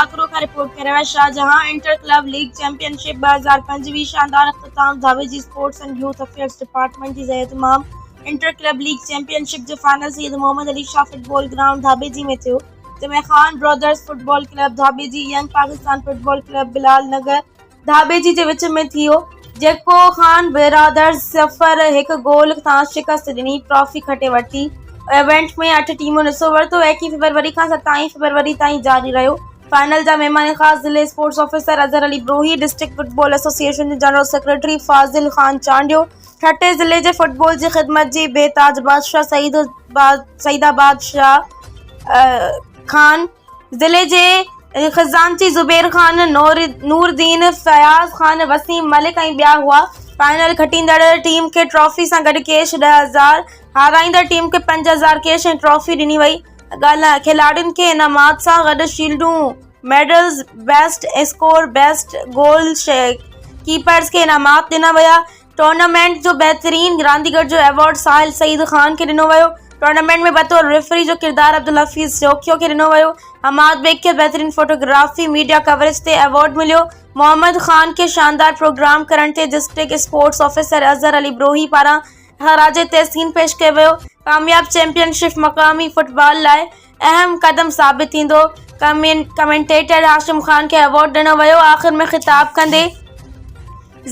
ٽاڪرو کان رپورٽ ڪريو آهي Shahjahan inter club league champion ship ٻه هزار پنج ويهه شاندار اختتام Dhabeji sports and youth affairs department جي زيراهتمام انٽر ڪلب ليگ چيمپيئن شپ جو final Syed Muhammad Ali Shah football ground Dhabeji ۾ ٿيو جنهن ۾ Khan brothers football club Dhabeji young Pakistan football club Bilal Nagar Dhabeji جي وچ ۾ ٿيو جيڪو خان برادرز صفر هڪ گول سان شڪست ڏني ٽرافي کٽي ورتي ايونٽ ۾ اٺ ٽيمون حصو ورتو ايڪيهن فيبروري کان ستائين فيبروري تائين جاري رهيو فائنل جا مهمان خاص ضلعي sports officer Azhar Ali Brohi district football association جي جنرل سيڪريٽري فاضل خان چانڊيو ٺٽي ضلعي جي فٽبال جي خدمت جي بي تاج بادشاهه سعيد سعيد آباد شاهه خان ضلعي جي خزانچي زبير خان، نوردين، فياض خان، وسيم ملڪ ۽ ٻيا هئا. فائنل کٽيندڙ ٽيم کي ٽرافي سان گڏ ڪيش ڏهه هزار، هارائيندڙ ٽيم کي پنج هزار ڪيش ۽ ٽرافي ڏني وئي. کيلاڙين کي انعامات سان گڏ شيلڊون، medals, best score, best goalkeepers کي انعامات ڏنا ويا. ٽورنامينٽ جو بهترين رانديگر جو ايوارڊ ساحل سعيد خان کي ڏنو ويو، ٽورنامينٽ ۾ بطور ريفري جو ڪردار عبدالحفيظ سيوکيو کي ڏنو ويو، حماد بيگ کي بهترين فوٽوگرافي ميڊيا ڪوريج تي ايوارڊ مليو، محمد خان کي شاندار پروگرام ڪرڻ تي district sports officer Azhar Ali Brohi پاران خراج تحسين پيش ڪيو ويو، ڪامياب چيمپيئن شپ مقامي فٽبال لاء اهم قدم ثابت ٿيندو، ڪمينٽيٽر هاشم خان کي ايوارڊ ڏنو ويو، آخر ۾ خطاب ڪندي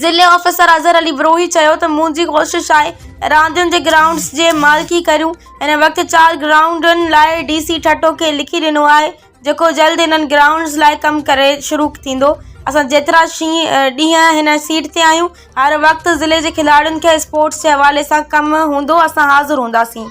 ضلعي آفيسر اظهر علي بروهي چيو ته منهنجي ڪوشش آهي راندين جي گرائونڊز جي مالڪي ڪريون، هن وقت چار گرائونڊن لاء ڊي سي ٺٽو کي لکي ڏنو آهي جيڪو جلد انهن گرائونڊز لاء ڪم ڪري شروع ٿيندو، اسان جيترا ڏينهن هن سيٽ تي آهيون هر وقت ضلعي جي کلاڙين کي اسپورٽس جي حوالي سان ڪم هوندو اسان حاضر هونداسين.